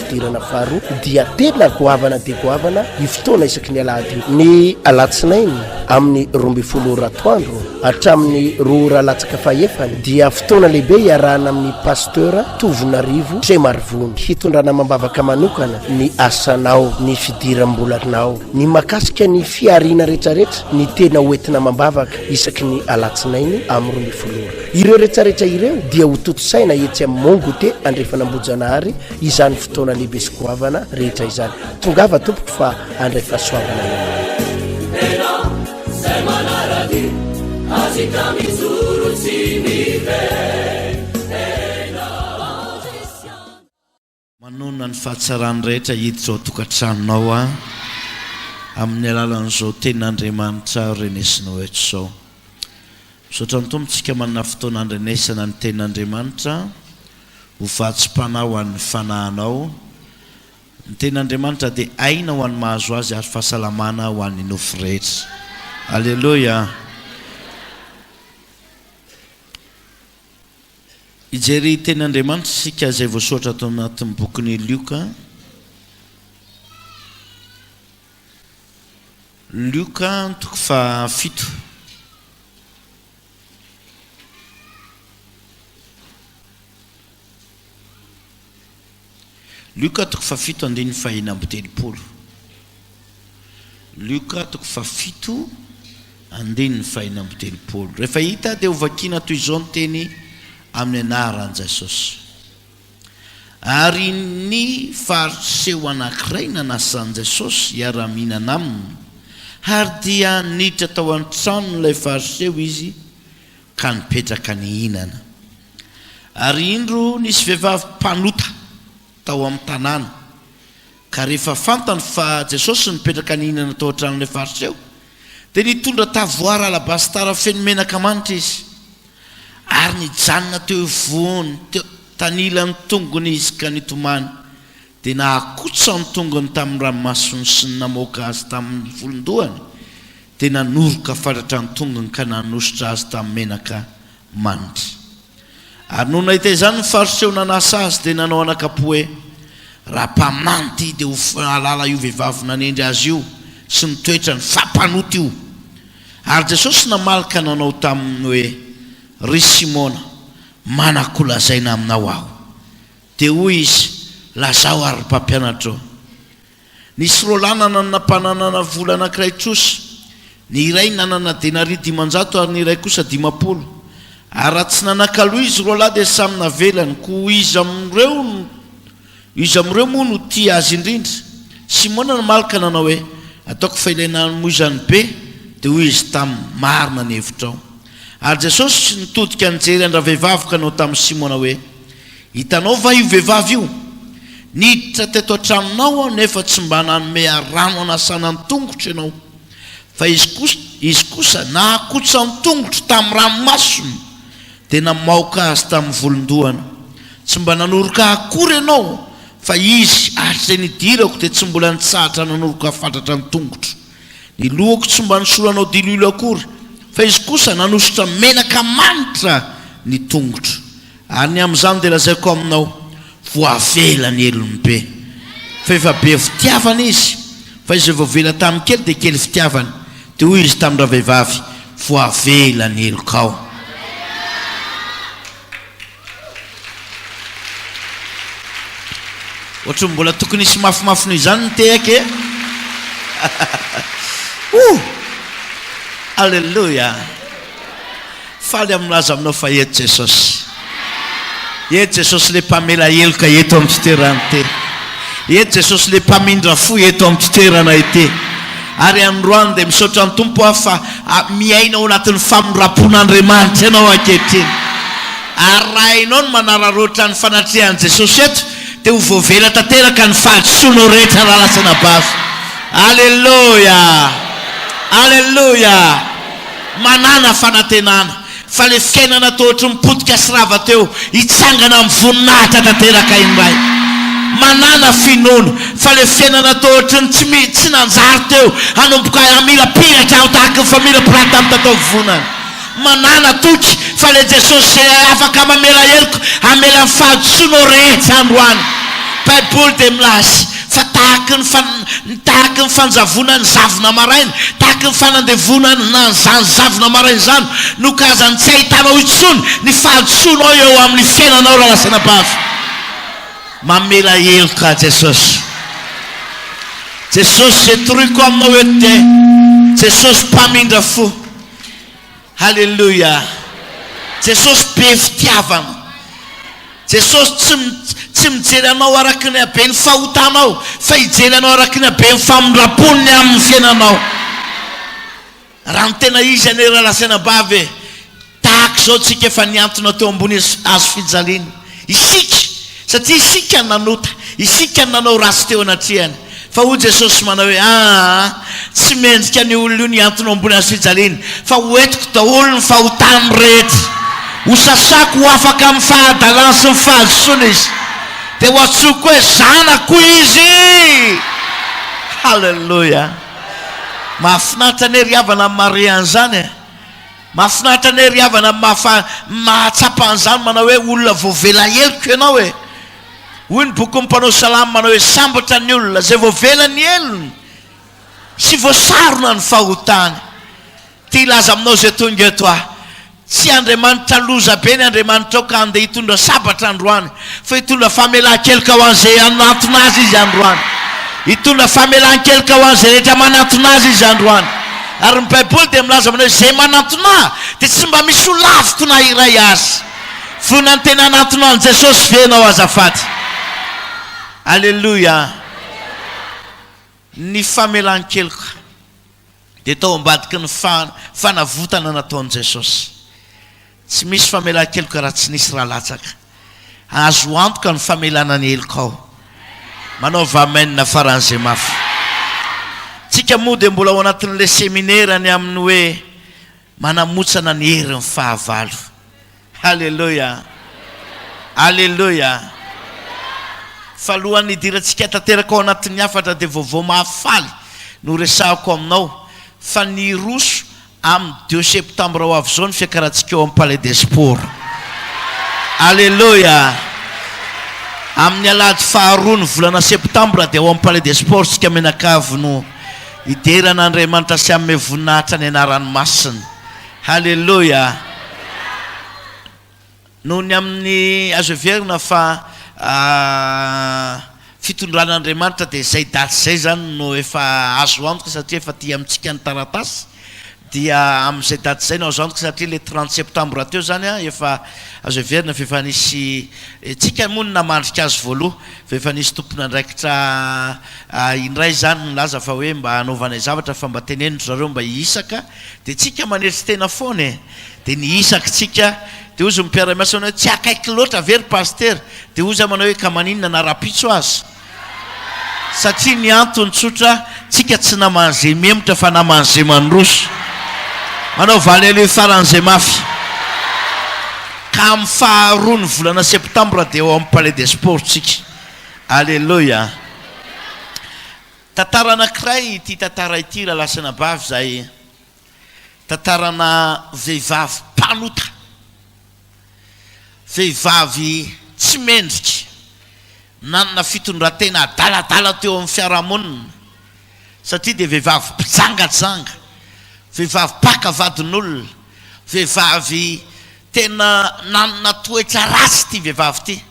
Fidirana faharoa dia tena goavana dia goavana io fotoana isaky ny alahady io. Ny alatsinainy amin'ny roa ambin'ny folo ora atoandro hatramin'ny roa ora latsaka fahefany dia fotoana lehibe iarahana amin'ny Pasteur Tovonarivo Tremarivony hitondrana amam-bavaka manokana ny asanao, ny fidiram-bolanao, ny mahakasika ny fihariana rehetrarehetra ny tena ho entina amam-bavaka isaky ny alatsinainy amin'ny roa ambin'ny folo ora. Ireo rehetrarehetra ireo dia hotontosaina etsy amin'ny Mon Goûter Andrefan'Ambohijanahary izany fotoana lehibe sy goavana rehetra izany. Tongava tompoko fa andray fahasoavana Manonona ny fahatsarany rehetra hiditra ao tokantranonao aho amin'ny alalan'izao tenin'Andriamanitra renesina ho eto izao. Misaotra ny Tompo tsika manana fotoana andrenesana ny tenin'Andriamanitra. Ho vatsim-panahy ho an'ny fanahinao. Ny Tenin'Andriamanitra dia aina ho an'ny mahazo azy ary fahasalamana ho an'ny nofo rehetra. Aleloia! Hijery Tenin'Andriamanitra isika izay voasoratra tao anatin'ny bokin'i Lioka. Lioka toko fahafito. Lioka toko fahafito andininy fahena amby telopolo Lioka toko fahafito andininy fahena amby telopolo Rehefa hita dia hovakiana toy izao ny teny amin'ny anaran-Jesosy. Ary ny faritry seho anankiray nanasan'i Jesosy hiara-mihinana aminy, ary dia niditra tao an-tranon'ilay fariseho izy ka nipetraka nihinana. Ary indro nisy vehivavy mpanota tao amin'ny tanàna. Ka rehefa fantany fa Jesosy no nipetraka nihinana tao an-tranon'ilay Fariseo, dia nitondra tavoara alabasitara feno menaka manitra izy, ary nijanona teo ivohony, teo tanilan'ny tongony izy ka nitomany, dia nahakotsa ny tongony tamin'ny ranomasony sy ny namoaka azy tamin'ny volon-dohany, dia nanoroka fatratra ny tongony ka nanosotra azy tamin'ny menaka manitra. Ary nony nahita izany ny fariseho nanasa azy dia nanao anakapo hoe, Raha mpaminany ity dia ho fahalala io vehivavy nanendry azy io sy ny toetrany fa mpanota io. Ary Jesosy namaly ka nanao taminy hoe, Ry Simona, manako ho lazaina aminao aho. Dia hoy Izy, Lazao ary ry Mpampianatro. Nisy roa lahy nanana mpananana vola anankiray trosa, ny iray nanana denaria dimanjato ary ny iray kosa dimampolo. Ary raha tsy nanakaloa izy roa lahy dia samy navelany, koa iza amin'ireo iza amin'ireo moa no tia azy indrindra? Simona namaly ka nanao hoe, Ataoko fa ilay nanoa izany be. Dia hoy izy taminy, Marina ny hevitrao. Ary Jesosy nitodika nijery an-dravehivavy ka nanao tamin'i Simona hoe, Hitanao va io vehivavy io? Niditra teto an-tranonao aho nefa tsy mba nanome rano hanasana ny tongotro ianao, fa izy kosa nahakotsa ny tongotro tamin'ny ranomasony, dia namaoka azy tamin'ny volon-dohany. Tsy mba nanoroka ahy akory ianao, fa izy, hatr'izay nidirako, dia tsy mbola nitsahatra nanoroka ahy fatratra ny tongotro. Ny lohako tsy mba nosoranao diloilo akory, fa izy kosa nanosotra menaka manitra ny tongotro. Ary ny amin'izany dia lazaiko aminao, voavela ny helony be, fa efa be fitiavana izy, fa izay voavela tamin'ny kely dia kely fitiavana. Dia hoy izy tamin-dravehivavy, voavela ny helokao. Ohatran'ny mbola tokony hisy mafimafy noho izany ny tehaka e! Ohh! Alléluia! Faly amin'ny milaza aminao fa eto Jesosy. Eto Jesosy le mpamela heloka eto amin'ny fitoerana ity. Eto Jesosy le mpamindra fo eto amin'ny fitoerana ity. Ary androany dia misaotra ny Tompo aho fa ah, miaina ao anatin'ny famindram-pon'Andriamanitra ianao ankehitriny. Ary raha ianao no manararaotra ny fanatrehan'i Jesosy eto, dia ho voavela tanteraka ny fahadisoanao rehetra raha lasa anabavy. Aleloia! Aleloia! Manàna fanantenana fa ilay fiainana toa ohatry ny potika sy rava teo hitsangana amin'ny voninahitra tanteraka indray. Manàna finoana fa ilay fiainana toa ohatry ny tsy mi, tsy nanjary teo hanomboka hamila piratra aho tahaka ny famila pirata amin'ny tataovonana. Manàna toky fa ilay Jesosy izay afaka mamela heloko hamela ny fahadisoanao rehetra androany. Baiboly dia milaza. Fa tahaky ny fa, ny tahaky ny fanjavona ny zavona maraina, tahaky ny fanandevona an, an'izany zavona maraina izany, no kazany tsy ahitanao intsony ny fahadisoanao eo amin' ny fiainanao raha lasa anabavy. Mamela heloka Jesosy. Jesosy, izay toroiko aminao eto dia Jesosy mpamindra fo. Haleloia! Jesosy be fitiavana. Jesosy tsy tsy mijery anao araka ny haben'ny fahotanao fa hijery anao araka ny haben'ny famindrampony amin'ny fiainanao. Raha ny tena izy anie raha lazaina ambavy e, tahaka izao tsika efa nihantona teo ambony hazo fijaliana. Isika, satria isika no nanota, isika no nanao ratsy teo anatrehany. Fa hoy Jesosy manao hoe, Aa, tsy mendrika an'io olona io ny hantona eo ambony hazofijaliany, fa ho entiko daholo ny fahotany rehetra. Ho sasako ho afaka amin'ny fahadalany sy ny fahadisoany izy. Dia ho antsoiko hoe zanako izy. Haleloia! Mahafinaritra anie ry havana ny marehan'izany e! Mafinaritra anie ry havana mafa mahatsapa an'izany manao hoe olona voavela heloka ianao e! Hoy ny bokin'ny mpanao salamo manao hoe sambatra ny olona izay voavela ny helony sy voasarona ny fahotany. Te hilaza aminao izay tonga eto aho, tsy Andriamanitra loza be ny Andriamanitrao ka andeha hitondra sabatra androany Fa hitondra famelan-keloka ho an'izay hanatona Azy Izy androany. Hitondra famelan-keloka ho an'izay rehetra manatona Azy Izy androany. Ary ny Baiboly dia milaza manao hoe, Izay manantona Ahy, dia tsy mba misy ho laviko na iray aza. Vonona ny tena hanantona an'i Jesosy ve ianao azafady? Aleloia! Ny famelan-keloka. Dia tao ambadiky ny fanavotana nataon'i Jesosy, tsy misy famelan-keloka raha tsy nisy ra latsaka. Azo antoka ny famelana ny helokao. Manaova amen faran'izay mafy. Tsika moa dia mbola ao anatin'ilay seminera ny amin'ny hoe manamotsana ny herin'ny fahavalo. Haleloia! Haleloia! Fa alohan'ny hidirantsika tanteraka ao anatin'ny hafatra dia vaovao mahafaly no horesahako aminao fa niroso amin'ny deux septembre ho avy izao ny fiakarantsika eo amin'ny Palais des Sports. Haleloia! Amin'ny alahady faharoa ny volana septembre dia ao amin'ny Palais des Sports isika mianakavy no hidera an'Andriamanitra sy hanome voninahitra ny anarany masina. Haleloia! Noho ny amin'ny azo heverina fa fitondran'Andriamanitra dia izay daty izay izany no efa azo antoka satria efa aty amintsika ny taratasy dia amin'izay daty izay no azo antoka satria ilay trente septembre teo izany an, efa azo heverina fa efa nisy tsika moa no namandrika azy voaloha fa efa nisy tompon'andraikitra indray izany nilaza fa hoe mba hanaovanay zavatra fa mba teneno ry zareo mba hihisaka Dia tsika manetry tena foana e! Dia ny isaky tsika, dia hozy ny mpiara-miasa aminay hoe, tsy akaiky loatra ve ry Pasitera? Dia hozy aho manao hoe, ka maninona na rahampitso aza? Satria ny antony tsotra, tsika tsy naman'ny ze mihemotra fa naman'ny ze mandroso. Manao valy aloha hifaran'ny ze mafy. Ka amin'ny faharoa ny volana septambra dia ao amin'ny Palais des Sports tsika. Aleloia! Tantara anankiray ity tantara ity Ralasanabavy izay tantarana vehivavy mpanota, vehivavy tsy mendrika, nanana fitondrantena adaladala teo amin'ny fiarahamonina satria dia vehivavy mpijangajanga, vehivavy mpaka vadin'olona, vehivavy tena nanana toetra ratsy ity vehivavy ity.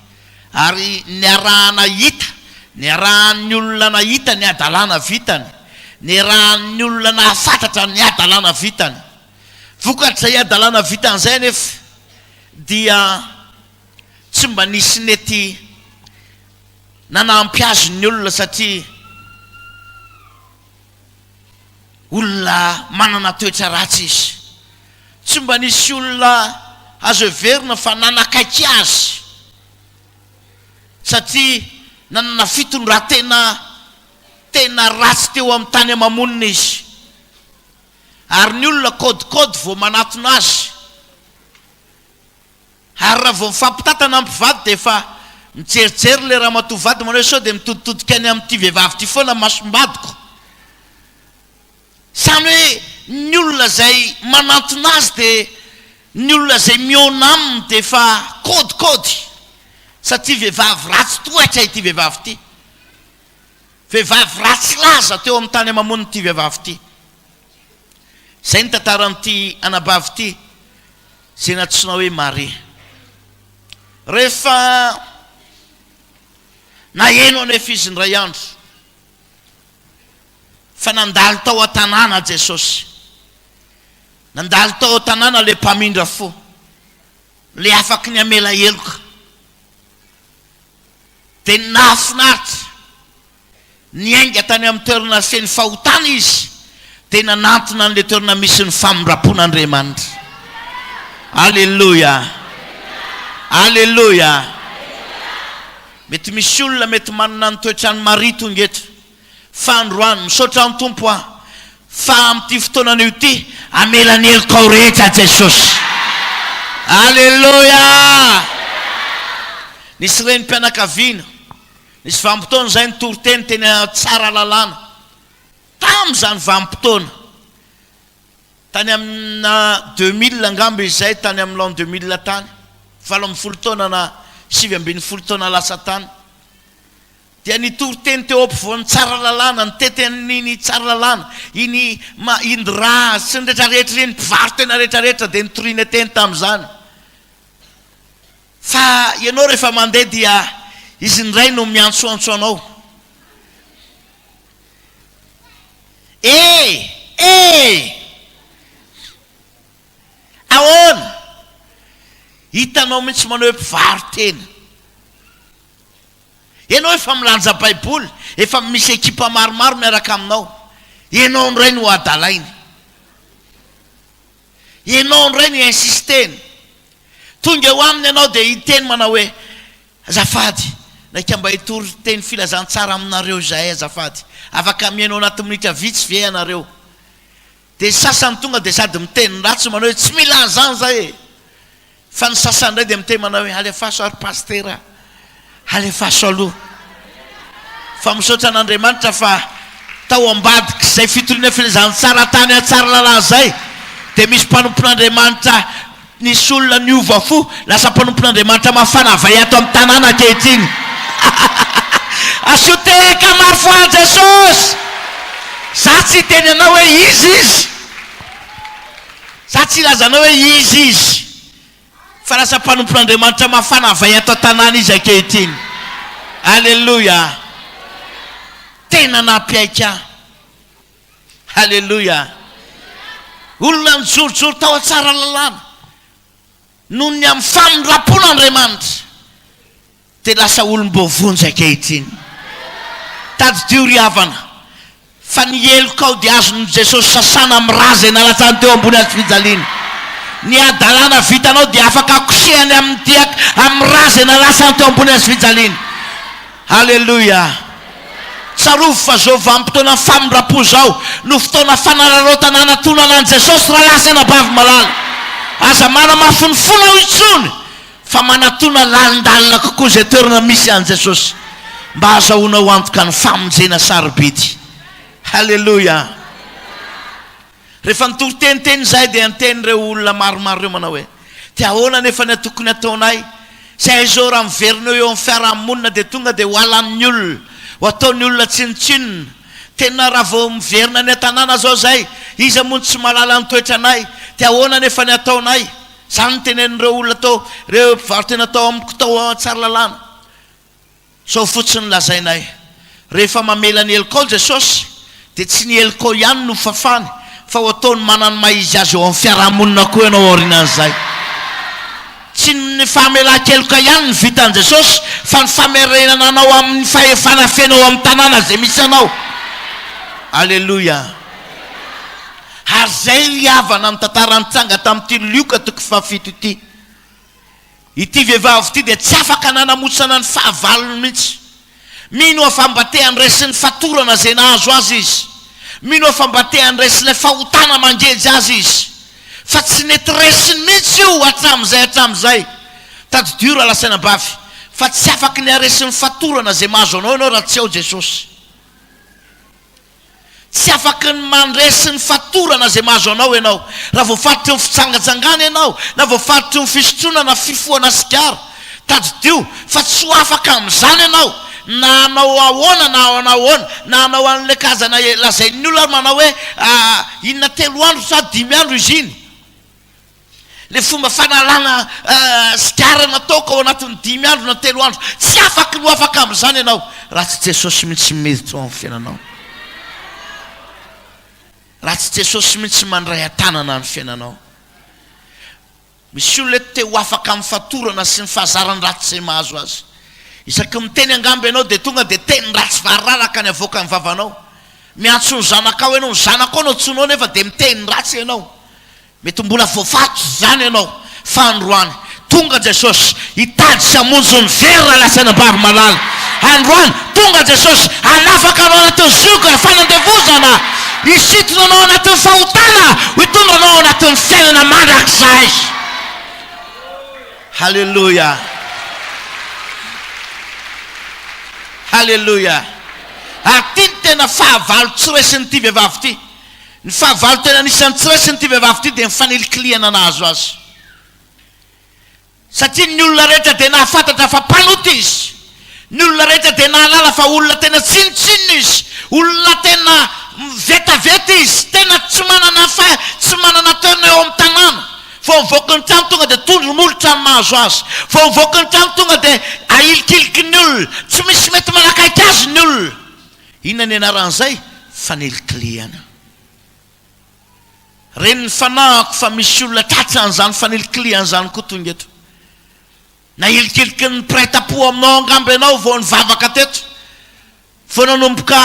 Ary niarahana hita, niarahan'ny olona nahita ny hadalana vitany, niarahan'ny olona nahafatratra ny hadalana vitany. Vokatr'izay hadalana vitany izay anefa dia tsy mba nisy nety nanampy azy ny olona satria, Olona manana toetra ratsy izy. Tsy mba nisy olona azo heverina fa nanakaiky azy satria nanana fitondran-tena tena ratsy teo amin'ny tany ama-monina izy. Ary ny olona kaodikaody vao manatona azy. Ary raha vao mifampitantana mpivady dia efa mijerijery ilay ramatoa vady manao hoe sao dia mitoditodika any amin'ity vehivavy ity foana ny masom-badiko. Izany hoe ny olona izay manantona azy dia ny olona izay mihaona aminy dia efa kaodikaody satria vehivavy ratsy tohatra ity vehivavy ity. Vehivavy ratsy laza teo amin'ny tany ama-monina ity vehivavy ity. Izay ny tantaran'ity anabavy ity, izay nantsoina hoe Maria. Rehefa naheno anefa izy indray andro fa nandalo tao an-tanàna Jesosy, nandalo tao an-tanàna ilay mpamindra fo, ilay afaky ny hamela heloka, dia nahafinaritra. Niainga tany amin'ny toerana feno fahotana izy, dia nanantona an'ilay toerana misy ny famindram-pon'Andriamanitra. Aleloia! Aleloia! Mety misy olona mety manana ny toetran'i Maria tonga eto, fa androany, misaotra ny Tompo aho, fa amin'ity fotoanana ity, hamela ny helokao rehetra Jesosy. Aleloia! Nisy renim-pianakaviana, Nisy vanim-potoana izay ny toriteny teny Tsaralalàna. Tamin'izany vanim-potoana, tany amina deux mille angamba izay, tany amin'ny l'an deux mille tany, valo ambin'ny folo taona na sivy ambin'ny folo taona lasa tany, dia ny toriteny teo ampovoan'ny Tsaralalàna, ny teten'iny Tsaralalàna, iny Ma Indra sy ny rehetrarehetra ireny, mpivarotena rehetrarehetra dia nitoriana teny tamin'izany. Fa ianao rehefa mandeha dia izy indray no miantsoantso anao. Ee! Ee! Ahoana? Hitanao mihitsy manao hoe mpivaro-tena. Ianao efa milanja Baiboly, efa misy ekipa maromaro miaraka aminao, ianao indray no hadalainy. Ianao indray no insisteny. Tonga eo aminy ianao dia hiteny manao hoe, Azafady, naika mba hitory teny filazantsara aminareo izahay azafady. Afaka mihaino anaty minitra vitsy ve ianareo? Dia ny sasany tonga dia sady miteny ratsy manao hoe, Tsy mila an'izany izahay e! Fa ny sasany indray dia miteny manao hoe alefaso ary pasitera a! Alefaso aloha fa misaotra an'Andriamanitra fa tao ambadik'izay fitoriana filazantsara tany à Tsaralalà izay dia misy mpanompon'Andriamanitra nisy olona niova fo lasa mpanompon'Andriamanitra mafana vay ato amin'ny tanàna ankehitriny Asio tehaka maro fo aho Jesosy! Za tsy hiteny anao hoe iza izy! Za tsy hilaza anao hoe iza izy, fa lasa mpanompon'Andriamanitra mafana vay ato an-tanàna izy ankehitriny. Aleloia! Tena nampiaiky ahy. Aleloia! Olona nijorojoro tao an-tsaralalàna, noho ny amin'ny famindram-pon'Andriamanitra. dia lasa olom-baovao njy ankehitriny. Tadidio ry havana, fa ny helokao dia azon'i Jesosy sasana amin'ny ra izay nalatsany teo ambony hazofijaliana. Ny hadalana vitanao dia afaka kosehany amin'ny diaka amin'ny ra izay nalatsany teo ambony hazofijaliana. Aleloia! Tsarovy fa izao vanim-potoanan'ny famindram-po izao no fotoana fanararaotana hanatonana an'i Jesosy Ralahy sy Anabavy malala. Aza manamafy ny fonao intsony fa manatona lalindalina kokoa izay toerana misy an'i Jesosy mba hahazahoana ho antoka ny famonjena sarobidy. Haleloia! Rehefa nitory teniteny izahay dia niteny ireo olona maromaro ireo manao hoe, Dia ahoana anefa ny atokony ataonay? Izay izao raha miverina eo eo amin'ny fiaraha-monina dia tonga dia ho halan'ny olona, ho ataon'ny olona tsinontsinona. Tena raha vao miverina any an-tanàna izao izay, iza moa no tsy mahalala ny toetranay? Dia ahoana anefa ny ataonay? Izany no tenenin'ireo olona tao, ireo mpivaro-tena tao amiko tao Tsaralalàna. Izao fotsiny no lazainay, Rehefa mamela ny helikao Jesosy, dia tsy ny helikao ihany no fafany, fa ho ataony manana ny maha-izy azy eo amin'ny fiarahamonina koa ianao aorianan'izay. Tsy ny famelan-keloka ihany no vitan'i Jesosy, fa ny famerenana anao amin'ny fahefana feno ao amin'ny tanàna izay misy anao. Aleloia! Ary izay ny havana amin'ny tantara nitranga tamin'ity Lioka toko fahafito ity. Ity vehivavy ity dia tsy afaka nanamosana ny fahavalony mihitsy. Mino aho fa mba te handresy ny fatorana izay nahazo azy izy. Mino aho fa mba te handresy ilay fahotana mangeja azy izy. Fa tsy nety resiny mihitsy io hatramin'izay hatramin'izay. Tadidio raha lasaina bavy, fa tsy afaky ny haresy ny fatorana izay mahazo anao ianao raha tsy ao Jesosy. Tsy afaky ny mandresy ny fatorana izay mahazo anao ianao raha voafaritra eo amin'ny fijangajangana ianao na voafaritra eo amin'ny fisotroana na fifohana sigara. Tadidio fa tsy ho afaka amin'izany ianao na hanao ahoana na hanao ahoana, na hanao an'ilay karazana lazain'ny olona ary manao hoe inona telo andro sa dimy andro izy iny? Ilay fomba fanalana sigara nataoko ao anatin'ny dimy andro na telo andro, tsy afaky ny ho afaka amin'izany ianao raha tsy Jesosy mihitsy miditra ao amin'ny fiainanao, raha tsy Jesosy mihitsy mandray an-tanana ny fiainanao. Misy olona eto te ho afaka amin'ny fatorana sy ny fahazaran'ny ratsy izay mahazo azy. Isaky ny miteny angamba ianao dia tonga dia teny ratsy variraraka ny avoakan'ny vavanao. Miantso ny zanakao ianao, ny zanakao no antsoinao nefa dia miteny ratsy ianao. Mety mbola voafatotry izany ianao fa androany tonga Jesosy hitady sy hamonjy ny very raha lasa any am-bavy-malala. Androany tonga Jesosy hanafaka anao anatin'ny zioga fanandevozana, hisintona anao anatin'ny fahotana, ho hitondra anao anatin'ny fiainana mandrakizay. Haleloia! Haleloia! Ary ity ny tena fahavalo tsy resin'ity vehivavy ity. Ny fahavalo tena nisy an'i Tsra sy an'ity vehivavy ity dia ny fanilikilihana nahazo azy satria ny olona rehetra dia nahafantatra fa mpanota izy, ny olona rehetra dia nahalala fa olona tena tsinontsinona izy, olona tena vetaveta izy, tena tsy manana fa tsy manana toerana eo amin'ny tanàna. Vao mivoaka ny trano tonga dia tondro molotra ny mahazo azy, vao mivoaka ny trano tonga dia ahilikiliky ny olona, tsy misy mety manakaiky azy ny olona. Inona ny anaran'izay? Fanilikilihana. Ren'ny fanahiko fa misy olona tratra an'izany fanilikilihana izany koa tonga eto. Nahilikilikin'ny mpiray tampo aminao angamba ianao vao nivavaka teto. Vao nanomboka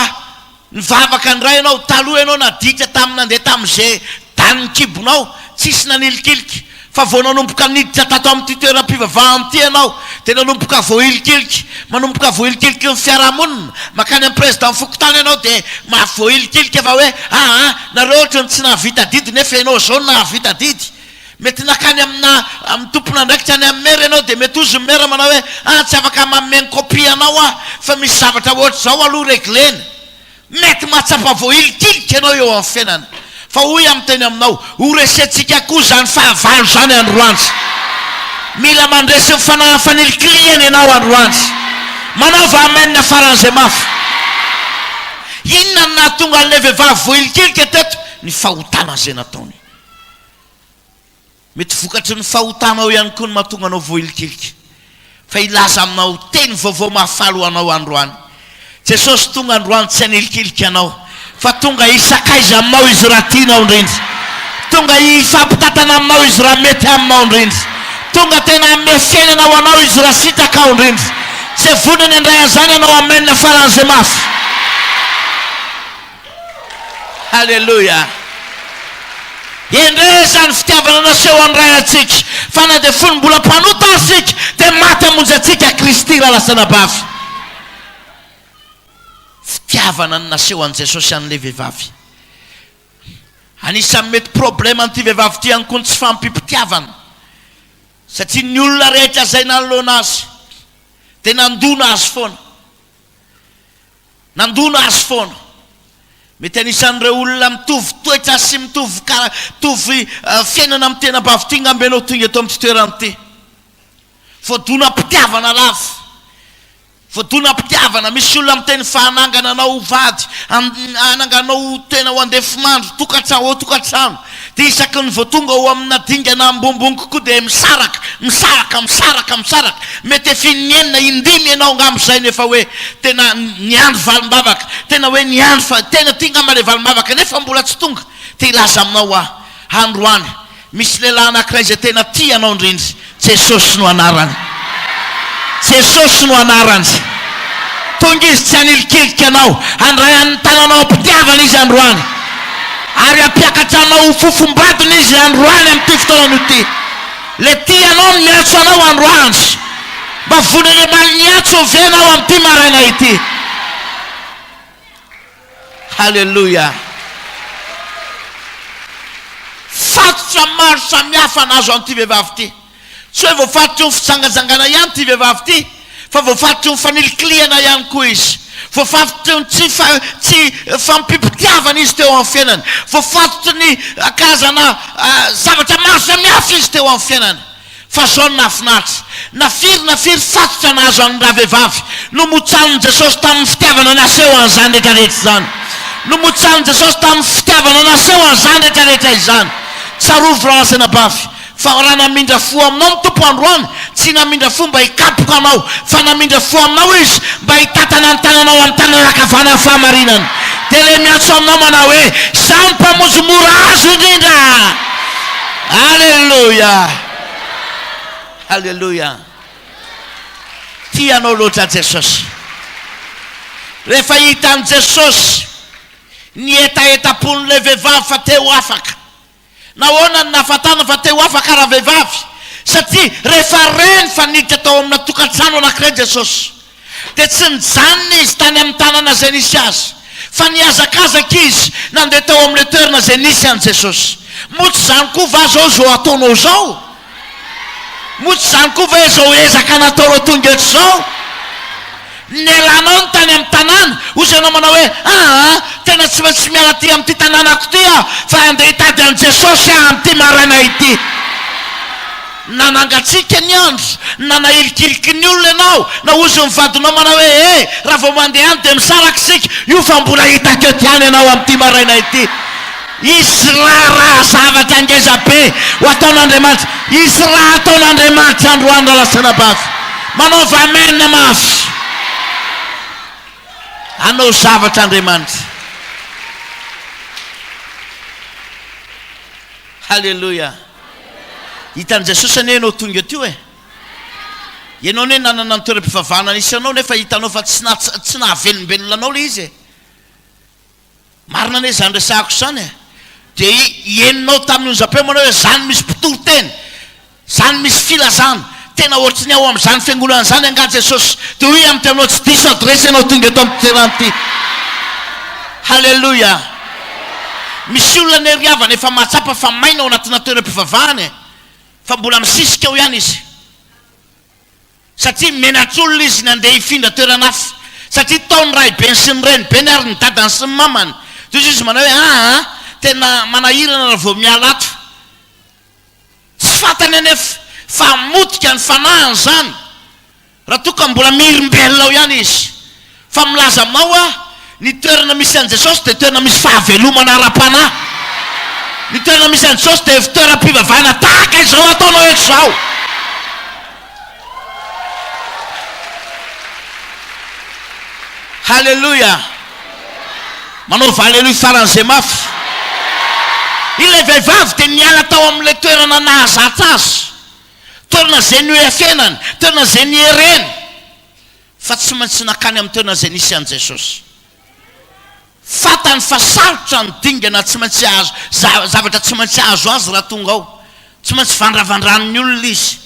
nivavaka indray ianao, taloha ianao nadika tamin'ny nandeha tamin'izay danin'ny kibonao, tsisy nanilikilika. Fa vao nanomboka niditra tato amin'ity toeram-pivavahana ity ianao dia nanomboka voahilikiliky, manomboka voahilikiliky ny fiarahamonina, mankany amin'ny Président fokontany ianao dia mafy voahilikilika fa hoe aa nareo ohatry ny tsy nahavita didy nefa ianao izao no nahavita didy. Mety nankany amina amin'ny tompon'andraikitra any amin'ny maire ianao dia mety hozy ny maire manao hoe aa tsy afaka manome ny copie anao aho fa misy zavatra ohatr'izao aloha reglena Mety mahatsapa voahilinkilika ianao eo amin'ny fiainana, fa hoy aho miteny aminao, ho resentsika koa izany fahavalo izany androany. Mila mandresy ny fanahy fanilikilihana ianao androany. Manaova amen faran'izay mafy. Inona no nahatonga an'ilay vehivavy voahilinkilika teto? Ny fahotana izay nataony. Mety vokatry ny fahotanao ihany koa ny mahatonga anao voailikilika. Fa hilaza aminao teny vaovao mahafaly ho anao androany. Jesosy tonga androany tsy hanilikilika anao, fa tonga hisakaiza aminao Izy raha tianao indrindra. Tonga hifampitantana aminao Izy raha mety aminao indrindra. Tonga tena hanome fiainana ho anao Izy raha sitraka ao indrindra. Tsy vonony handray an'izany ianao. Amen faran'izay mafy. Haleloia! Endrey izany fitiavana naseho an'ny Ray antsika, fa na dia fony mbola mpanota aza isika, dia maty hamonjy antsika Kristy raha lasa nabavy. Fitiavana ny naseho an'i Jesosy an'ilay vehivavy. Anisan'ny mety problème an'ity vehivavy ity ihany koa ny tsy fahampiam-pitiavana, satria ny olona rehetra izay nanoloana azy dia nandona azy foana. Nandona azy foana. Mety anisan'ireo olona mitovy toetra sy mitovy kara, mitovy fiainana amin'ny tenabavy ity ngamba ianao tonga eto amin'ity toerana ity. Voadonam-pitiavana lava. Voadonam-pitiavana. Misy olona miteny fa hanangana anao ho vady, hanangana anao ho tena ho andefimandry, tokantrano, ho tokantrano. Dia isaky ny vao tonga ao amina dingana ambonimbony kokoa dia misaraka, misaraka, misaraka, misaraka. Mety efin'ny enina, indimy ianao angamba izay no efa hoe tena niandry valim-bavaka, tena hoe niandry fa tena ity angamba ilay valim-bavaka nefa mbola tsy tonga. Te hilaza aminao aho, androany, misy lehilahy anankiray izay tena tia anao indrindra, Jesosy no anarany. Jesosy no anarany. Tonga Izy tsy hanilikilika anao. Handray amin'ny tananao am-pitiavana Izy androany. Ary hampiakatra anao ho fofom-badiny Izy androany amin'ity fotoananao ity. Le tia anao no miantso anao androany. Mba vonen'Andriamaniny hiantso ve ianao amin'ity maraina ity? Haleloia! Fatotra maro samihafa no azo an'ity vehivavy ity. Tsy hoe voafatotry ny fijangajangana ihany ity vehivavy ity, fa voafatotry ny fanilikilihana ihany koa izy. Voafatotry ny tsy fa, tsy fampipitiavana izy teo amin'ny fiainany. Voafatotry ny karazana zavatra maro samihafa izy teo amin'ny fiainany. Fa zao no nahafinaritra, na firy na firy fatotra nahazo an'ny ravehivavy, nomotsanin'i Jesosy tamin'ny fitiavana naseho an'izany rehetra rehetra izany. Nomotsanin'i Jesosy tamin'ny fitiavana naseho an'izany rehetra rehetra izany. Tsarovy raha lasa anabavy, fa raha namindra fo aminao ny Tompo androany, tsy namindra fo mba hikapoka anao, fa namindra fo aminao Izy mba hitantana ny tananao amin'ny tanana ankavanan'ny fahamarinana. Dia ilay miantso anao manao hoe, Izaho ny mpamonjy mora azo indrindra! Alléluia! Alléluia! Tia anao loatra Jesosy. Rehefa hitan'i Jesosy ny hetahetam-pon'ilay vehivavy fa te ho afaka. Nahoana no nahafantana fa te ho afaka ravehivavy? Satria rehefa reny fa niditra tao amina tokantrano anankiray Jesosy, Dia tsy nijanona izy tany amin'ny tanana izay nisy azy, fa nihazakazaka izy nandeha tao amin'ilay toerana izay nisy an'i Jesosy. Moa tsy izany koa va izao izao ataonao izao? Moa tsy izany koa ve izao ezaka nataonao tonga eto izao? Nialanao ny tany amin'ny tanàna, hoy ianao manao hoe, Aa, tena tsy maintsy miala aty amin'ity tanànako ity aho, fa handeha hitady an'i Jesosy aho amin'ity maraina ity. Na nangatsiaka ny andro, na nahilikiliky ny olona ianao, na hoy ny vadinao manao hoe, He, raha vao mandeha any dia misaraka isika, io fa mbola hitako eto ihany ianao amin'ity maraina ity. Hisy raharaha zavatra ngeza be ho ataon'Andriamanitra. Hisy raha hataon'Andriamanitra androany Ralastranabavy. Manaova Amen mafy. Hanao zavatra Andriamanitra. Haleloia. Hitan'i Jesosy anie ianao tonga teo e! Ianao anie nanana ny toeram-pivavahana nisy anao nefa hitanao fa tsy naha, tsy nahavelombelona anao ilay izy e! Marina anie izany resahako izany e! Dia henonao tamin'ny onjam-peo manao hoe, Izany misy mpitoriteny! Izany misy filazana! Tena ohatry ny ao amin'izany fiangonana izany angaha Jesosy dia hoy amin'ity anao tsy diso adresse ianao tonga eto amin'ity toerana ity. Haleloia. Misy olona anie ry havana efa mahatsapa fa maina ao anatina toeram-pivavahana e, fa mbola misisika ao ihany izy satria menatr'olona izy ny handeha hifindra toerana hafa satria tao ny rahibeny sy ny renibeny ary ny dadany sy ny mamany. Tohizo izy manao hoe aa tena manahirana raha vao miala ato. Tsy fantany anefa fa hamotika ny fanahiny izany raha toa ka mbola mihirimbelona ao ihany izy. Fa milaza aminao aho, ny toerana misy an'i Jesosy dia toerana misy fahavelomana ara-panahy. Ny toerana misy an'i Jesosy dia efi-toeram-pivavahana tahaka izao ataonao eto izao. Haleloia! Manaova Haleloia faran'izay mafy. Ilay vehivavy dia niala tao amin'ilay toerana nahazatra azy, toerana izay nioefenany, toerana izay niereny, fa tsy maintsy nankany amin'ny toerana izay nisy an'i Jesosy. Fantany fa sarotra ny dingana tsy maintsy hahazo, zavatra tsy maintsy azo azy raha tonga ao. Tsy maintsy vandravandran'ny olona izy.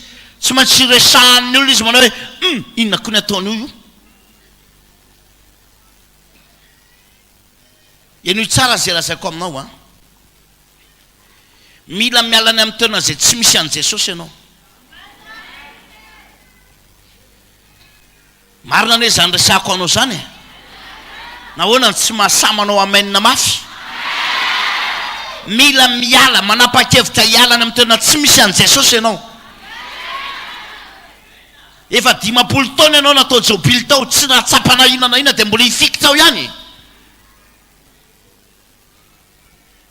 Tsy maintsy resahan'ny olona izy manao hoe, Hum! Inona koa ny ataon'io io? Henoy tsara izay lazaiko aminao an! Mila miala any amin'ny toerana izay tsy misy an'i Jesosy ianao. Marina anie zany resako anao zany e! Nahoana no tsy mahasahy manao amen mafy? Mila miala, manapa-kevitra hiala any amin'ny toerana tsy misy an'i Jesosy ianao. Efa dimampolo taona ianao natao jobily tao, tsy nahatsapa na inona na inona dia mbola hifikitra ao ihany.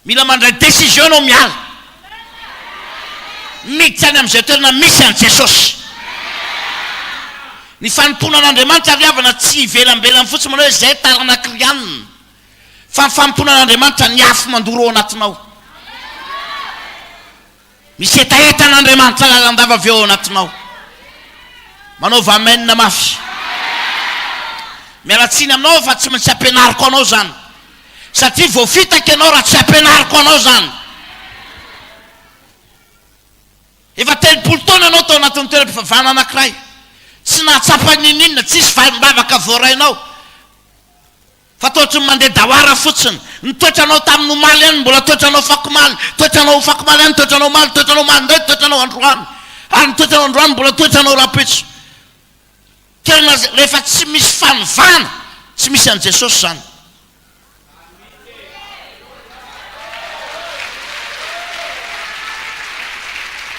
Mila mandray décision anao miala. Miditra any amin'izay toerana misy an'i Jesosy. Ny fanompoanan'Andriamanitra ary havana tsy ivelambelany fotsiny manao hoe zay taranak'i Rianina. Fa ny fanompoanan'Andriamanitra ny afo mandoro ao anatinao. Misy hetahetan' Andriamanitra lalandava avy ao anatinao. Manaova Amen mafy. Miala tsiny aminao fa tsy maintsy ampianariko anao izany. Satria voafitaka ianao raha tsy ampianariko anao izany. Efa telopolo taona ianao tao anatin'ny toeram-pivavahana anankiray. Tsy nahatsapa n'inon'inona, tsisy valim-bavaka voarainao. Fa toa ohatry ny mandeha dawara fotsiny. Ny toetranao tamin'ny omaly ihany no mbola toetranao fakomaly, toetranao fakomaly ihany ny toetranao omaly, toetranao omaly indray ny toetranao androany, ary ny toetranao androany mbola toetranao rahampitso. Toerana izay rehefa tsy misy fanovana, tsy misy an'i Jesosy izany.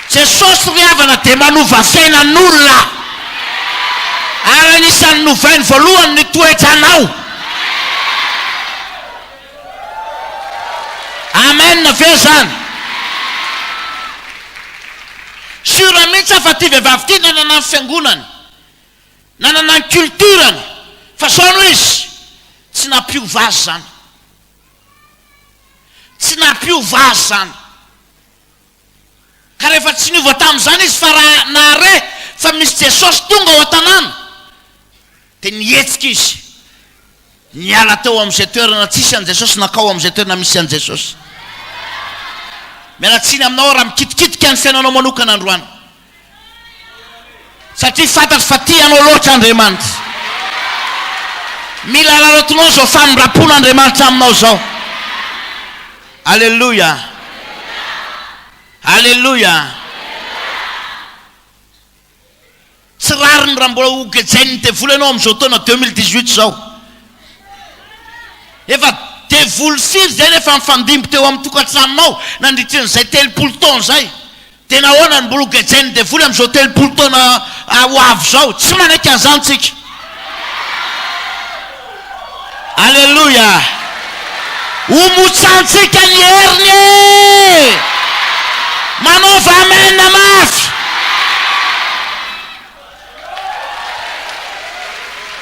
Jesosy ry havana dia manova fiainan olona ary anisan ny novainy voalohany ny toetranao Amen ve zany? Sure mintsy aho fa ty vehivavy ty nanana ny fiangonany nanana ny culture ny fa zao no izy tsy nampiova azy zany Tsy nampiova azy izany. Ka rehefa tsy niova tamin'izany izy fa raha nahare fa misy Jesosy tonga ao an-tanàna, dia nihetsika izy. Niala teo amin'izay toerana tsisy an'i Jesosy nankao amin'izay toerana misy an'i Jesosy. Miala tsiny aminao aho raha mikitikitika ny fiainanao manokana androany. Satria fantatro fa tia anao loatra Andriamanitra. Mila alalaotinao izao famindram-pon' Andriamanitra aminao izao. Aleloia. Aleloia. Tsy rariny raha mbola hogejain'ny devoly ianao amin'izao taona 2018 izao. Efa devoly firy izay no efa nifandimby teo amin'ny tokantranonao nandritrin'izay telopolo taona izay? Dia nahoana no mbola ho gejain'ny devoly amin'izao telopolo taona ho avy izao? Tsy manaiky an'izany tsika. Aleloia! Homotsantsika ny heriny e! Manaova amen mafy!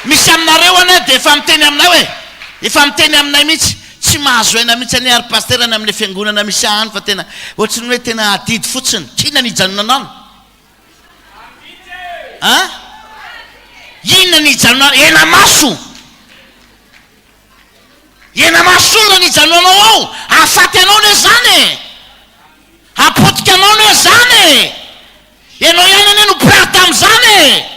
Misy aminareo anie dia efa miteny aminay hoe, efa miteny aminay mihitsy, tsy mahazo aina mihitsy anie ary Pasitera ny amin'ilay fiangonana misy ahy any fa tena ohatry ny hoe tena adidy fotsiny, inona ny hijanonanano? An? Inona ny hijanonanao? Ena maso! Ena maso inona ny hijanonanao ao? Hahafaty anao anie izany e! Hapotika anao anie izany e! Ianao ihany anie no mpirary tamin'izany e!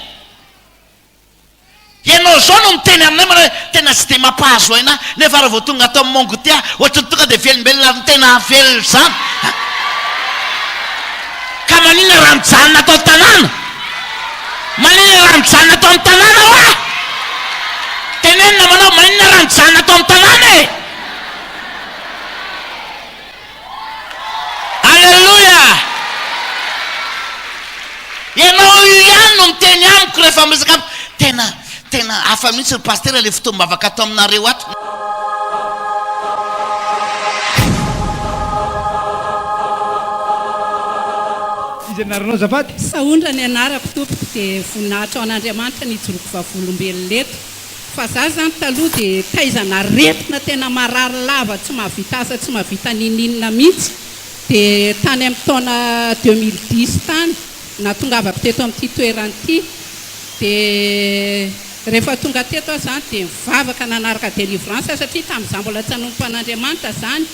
Ianao izao no miteny aminay manao hoe tena tsy dia mampahazo aina ahy, nefa raha vao tonga ato amin'ny Mongote aho, ohatran'ny tonga dia velombelona ary ny tena velona izany. Ka maninona raha mijanona ato an-tanàna? Maninona raha mijanona ato amin'ny tanàna hoa? Teneno namanao, maninona raha mijanona ato amin'ny tanàna e? Aleloia! Ianao io ihany no miteny amiko rehefa miresaka amiko. Tena, tena hafa mihitsy ry Pasitera ilay fotoam-bavaka ato aminareo ato. Iza ny anaranao azafady? Saundra ny anarako tompoko dia voninahitra ho an'Andriamanitra nijoroako vavolombelona eto. Fa za zany taloha de taiza naretina tena marary lava tsy mahavita asa tsy mahavita ninininona mintsy de tany am taona deux mille dix tany natongavako teto am ty toerana ity de refa tonga teto aho zany de nivavaka nanaraka delivrance aho satria tam za mbola tsy hanompo an Andriamanitra zany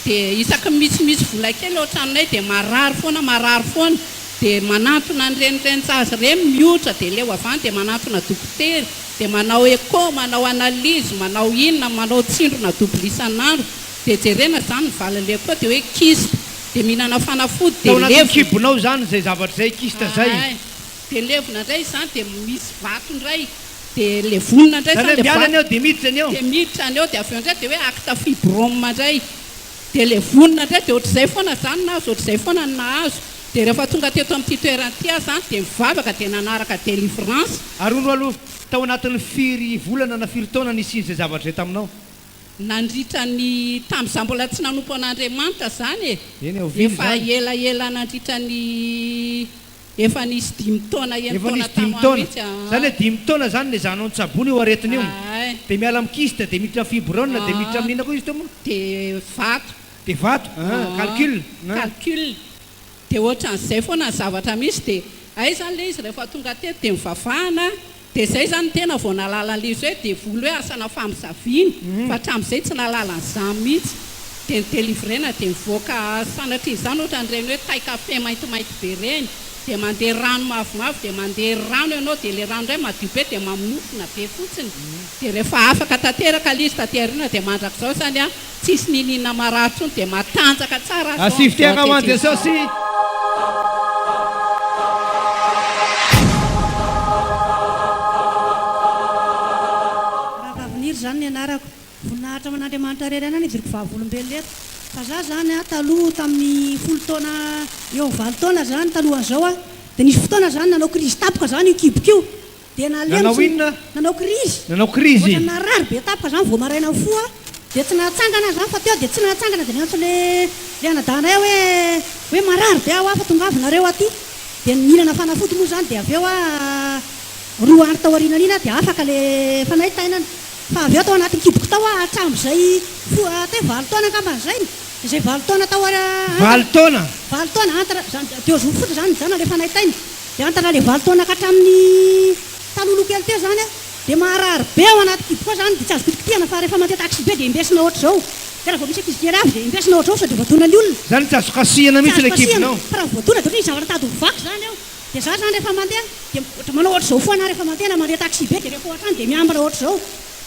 de isaky ny misimisy vola kely ao tranonay de marary foana marary foana de manantona an reny reni jaza reny mihotra de leo avy any de manantona dokotera dia manao echo, manao analyse, manao inona, manao tsindrona double isan'andro, dia jerena izany ny valin'ilay echo dia hoe kyste, dia mihinana fanafody dia levona. Tao anatin'ny kibonao izany izay zavatra izay, kyste izay. Ahay, dia levona indray izany, dia misy vato indray, dia levonina indray izany ilay vato. Izany hoe miala ny ao dia miditra ny ao. Dia miditra ny ao dia avy eo indray dia hoe acte fibrome indray. Dia ilay vonona indray dia ohatr'izay foana izany nahazo, ohatr'izay foana ny nahazo. Dia rehefa tonga teto amin'ity toerana ity aho izany dia nivavaka dia nanaraka délivrance. Ary hono aloha tao anatin'ny firy volana na firy taona nisian'izay zavatra izay taminao? Nandritra ny, tamin'izaho mbola tsy nanompo an'Andriamanitra izany e, efa elaela nandritra ny. Efa nisy dimy taona eny Efa nisy dimy taona. Zany hoe dimy taona zany le zanao nitsabona io aretina io. De miala am kiste de miditra am fibrone de miditra am inona koa izy teo moa? De vato. De vato a calcul a. Calcul. De ohatran'izay foana ny zavatra misy de hay zany le izy rehefa tonga teto de nivavahana. Dia zay zany ny tena vao nahalala an'ilay izy hoe devoly hoe asana famozaviana fa hatramin'izay tsy nahalala an'izany mihitsy. Dia ny delivrena dia mivoaka sanatria izany ohatran'ireny hoe tay kafe maintimainty be ireny dia mandeha rano mavomavo dia mandeha rano ianao dia ilay rano indray madio be dia maminofina be fotsiny dia rehefa afaka tanteraka ilay izy taty aoriana dia mandrakizao izany an! Tsisy niniana marary tsony dia matanjaka tsara aza ao amzao aty tsisy. Ravaviniry izany ny anarako. Voninahitra ho an'Andriamanitra irery ihany aho nidiriko vavolombelona eto. Fa za zany a, taloha tamin'ny folo taona eo valo taona zany talohan'izao a, dia nisy fotoana zany nanao krizy tampoka za n'io kiboko io. dia nalemy sy nanao krizy, nanao krizy, ohatra narary be tampoka izany vao maraina mifoha, dia tsy nahatsangana aza aho fa teo dia tsy nahatsangana dia niantso le le anadahinay aho hoe hoe marary be aho fa tongava nareo aty dia nihinana fanafody moa izany dia avy eo aho roa andro tao aorianany iny aho dia afaka le fanahy tainana fa avy eo tao anatin'ny kiboko tao aho hatramin'izay foha teo valo taona angambany izay no izay valo taona tao valo taona valo taona entre izany deux jours fotsiny izany nijanona le fanahy tainana Hiantatra ilay valo taona ka hatramin'ny talohaloha kely teo izany aho dia maharary be ao anaty kibo koa izany dia tsy azo kitikitihana fa rehefa mandeha taxibe dia embesina ohatr'izao dia raha vao misy ankizy kely avy dia embesina ohatr'izao sao dia voadona ny olona. Izany tsy azo kasihina mihitsy ilay kibonao. Tsy azo kasihina fa raha voadona dia ohatran'ny zavatra tady ho vaky izany eo. Dia izaho izany rehefa mandeha dia ohatra manao ohatr'izao foana aho rehefa mandeha na mandeha taxibe dia rehefa ao an-trano dia miambina ohatr'izao.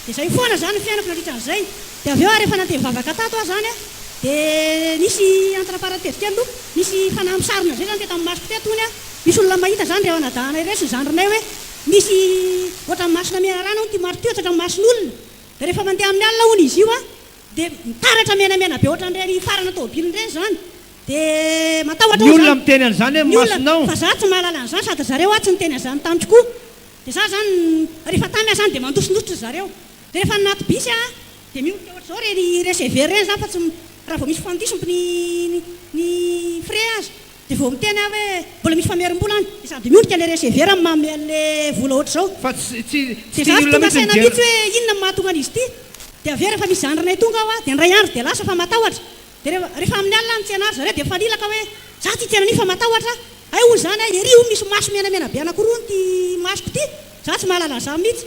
Dia izay foana izany ny fiainako nandritra an'izay. Dia avy eo ary efa nandeha nivavaka tato aho izany a, dia nisy anti-namparan'ny tetikely aloha, nisy fanahy misarona izay izany dia tamin'ny masoko teto hono a, misy olona mahita izany dia hanadahana ireo sy ny zandrinay hoe misy ohatran'ny masina menarana hono ity marito io, tsy ohatran'ny mason'olona, dia rehefa mandeha amin'ny alina hono izy io a, dia mitaratra menamena be ohatran'ireny hifarana tomobilina ireny izany, dia matahotra hono izany, ny olona miteny an'izany amin'ny masonao, fa za tsy mahalala an'izany sady ry zareo a tsy niteny an'izany tamiko koa, dia za izany rehefa tamy aho izany dia mandosondositra ry zareo, Dia rehefa anaty bus aho dia miondrika ohatr'izao re ny receveur reny zany fa tsy raha vao misy fandiso ny ny frais aza dia vao miteny aho hoe mbola misy famerim-bola any dia sady miondrika ilay receveur amin'ny maha miha an'ilay vola ohatr'izao dia za tsy tonga saina mihitsy hoe inona no mahatonga an'izy ity dia avy eo rehefa misy zandrinay tonga aho dia indray andro dia lasa fa matahotra dia rehefa amin'ny alina ny tsena ry zareo dia mifanilaka hoe za ty tena an'io fa matahotra aho hay hoy izany aho ery hoy misy maso menamena be anakiroa ity masoko ity za tsy mahalala an'izany mihitsy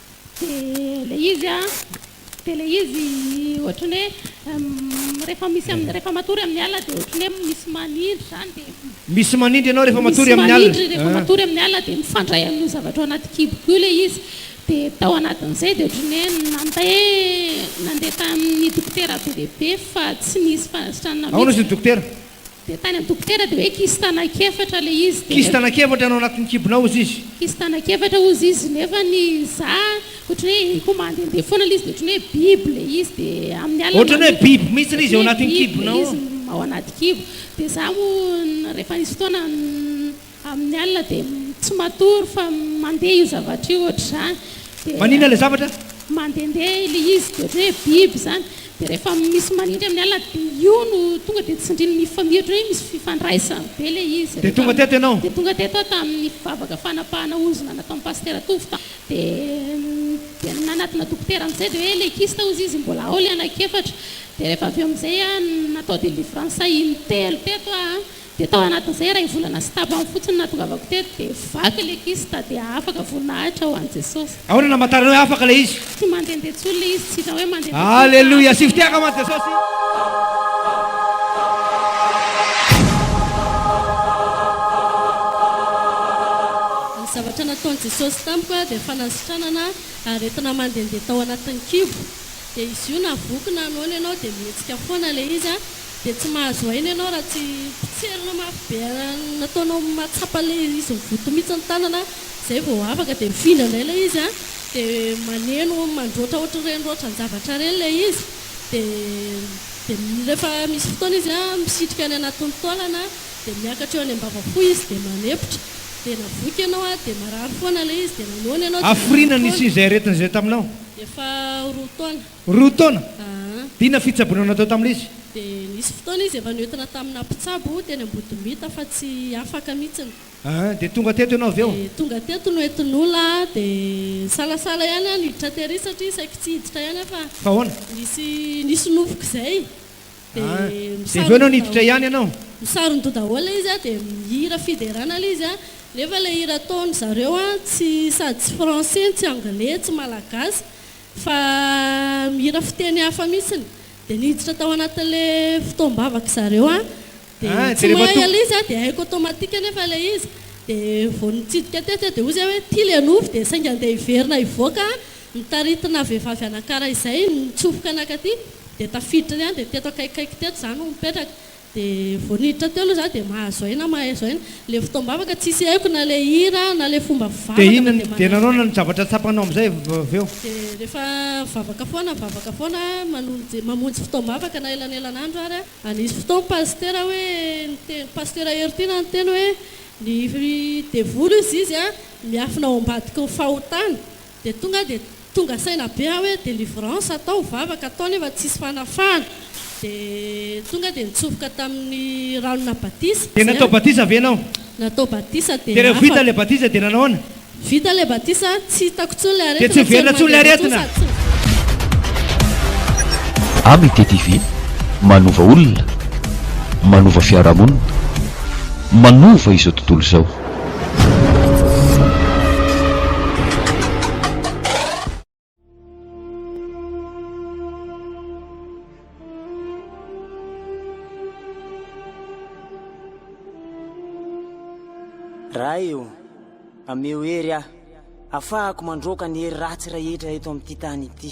Dia ilay izy an, dia ilay izy ohatran'ny hoe rehefa misy amin'ny, rehefa matory amin'ny alina dia ohatran'ny hoe misy manindry izany dia. Misy manindry ianao rehefa matory amin'ny alina. Misy manindry rehefa matory amin'ny alina dia mifandray amin'io zavatra ao anaty kiboko io ilay izy. Dia tao anatin'izay dia ohatran'ny hoe nanontay hoe nandeha tamin'ny dokotera be dia be fa tsy nisy fanasitranana mihitsy. Ahoana izy no dokotera? Dia tany an-dokotera dia hoe kisy tanak' efatra ilay izy dia. Kisy tanak' efatra no ao anatin'ny kibonao hozy izy. Kisy tanak' efatra hozy izy nefa ny za ohatran'ny hoe iko mandehandeha foana ilay izy dia ohatran'ny hoe biby ilay izy dia amin'ny alina. Ohatran'ny hoe biby mihitsy ilay izy ao anatin'ny kibonao ao. Ao anaty kibo dia za moa rehefa nisy fotoana. Amin'ny alina dia tsy matory fa mandeha io zavatra io ohatr'izany dia. Maninona ilay zavatra? Mandehandeha ilay izy dia ohatran'ny hoe biby izany dia rehefa misy manindry amin'ny alina dia io no tonga dia tsindriny mifamia ohatran'ny hoe misy fifandraisany be ilay izy rehefa. Dia tonga teto ianao? Dia tonga teto aho tamin'ny vavaka fanapahana ozona nataon'i Pasitera Tovo tao dia dia nanatona dokotera amin'izay dia hoe ilay kista hozy izy mbola ao ilay anak'efatra dia rehefa avy eo amin'izay aho natao délivrance in-telo teto aho Dia tao anatin'ny izay iray volana sy tapany fotsiny nahatongavako teto dia vaky ilay kyste dia afaka voninahitra ho an'i Jesosy. Ahoana no hamantarana hoe afaka ilay izy? Tsy mandehandeha intsony ilay izy, tsy hitanao hoe mandehandeha intsony fa afaka Aleloia! Asio fiteha angamba an'i Jesosy. Ny zavatra nataon'i Jesosy tamiko dia fanasitranana aretina mandehandeha tao anatin'ny kibo. Dia izy io na voky na noana ianao dia mihetsika foana ilay izy. Dia tsy mahazo aina ianao raha tsy potserina mafy be an'ny nataonao mahatsapa ilay izy mivoto mihitsy ny tanana an, izay vao afaka dia mifindra indray ilay izy an, dia maneno mandroatra ohatran'ireny roatran-javatra ireny ilay izy, dia rehefa misy fotoana izy an misitrika any anatin'ny taolana dia miakatra eo any am-bava fo izy dia manepotra, dia navoiky ianao an dia marary foana ilay izy dia nanoana ianao dia nanoana foana. Hafiriana nisy izay aretina izay taminao? Efa roa taona. Roa taona. Dia inona fitsaboana natao tamin'ilay izy? Dia nisy fotoana izy efa niotina tamina mpitsabo teny Ambodimita fa tsy afaka mihitsiny. Dia tonga teto ianao avy eo? Dia tonga teto no entin'olona aho dia nisalasala ihany aho niditra tery satria saiky tsy hiditra ihany aho fa Fa ahoana? nisy nisy nofiko izay dia Dia avy eo ianao niditra ihany ianao? misaron-doha daholo ilay izy dia mihira fiderana ilay izy nefa ilay hira ataon'izareo tsy sady tsy français tsy anglais tsy malagasy Fa mihira fiteny hafa mihitsiny. Dia niditra tao anatin'ilay fotoam-bavaka zareo aho. Dia tsy mahay ilay izy aho, dia haiko automatique anefa ilay izy. Dia vao nitsidika tetsy aho dia hoy izay hoe, ity ilay nofy, dia saingy andeha hiverina hivoaka aho, mitaritina vehivavy anankiray izay nitsofoka naka aty, dia tafiditra ihany, dia teto akaikikaiky teto izaho no mipetraka. Dia vao niditra teo aloha za dia mahazo aina mahazo aina. Ilay fotoam-bavaka tsisy haiko na ilay hira na ilay fomba fivavaka fa dia mahazo aina. Dia nanao ny zavatra tsapanao amin'izay avy eo? Dia rehefa mivavaka foana mivavaka foana manonja mamonjy fotoam-bavaka na elanelan'andro ary a. Ary nisy fotoana ny pasitera hoe niteny pasitera Hery Tiana niteny hoe ny devoly hozy izy a miafina ao ambadiky ny fahotana. Dia tonga dia tonga saina be aho hoe delivrance atao, vavaka atao nefa tsisy fanafahana. Dia tonga dia nitsofoka tamin'ny ranona batisa. Dia natao batisa ve ianao? Natao batisa dia afaka. Dia rehefa vita ilay batisa dia nanao ahoana? Vita ilay batisa, tsy hitako intsony ilay aretina. Dia tsy miverina intsony ilay aretina? Amitié TV, manova olona, manova fiarahamonina, manova izao tontolo izao. Ray o, ameo hery aho, afahako mandroaka ny hery ratsy rahetra eto amin'ity tany ity.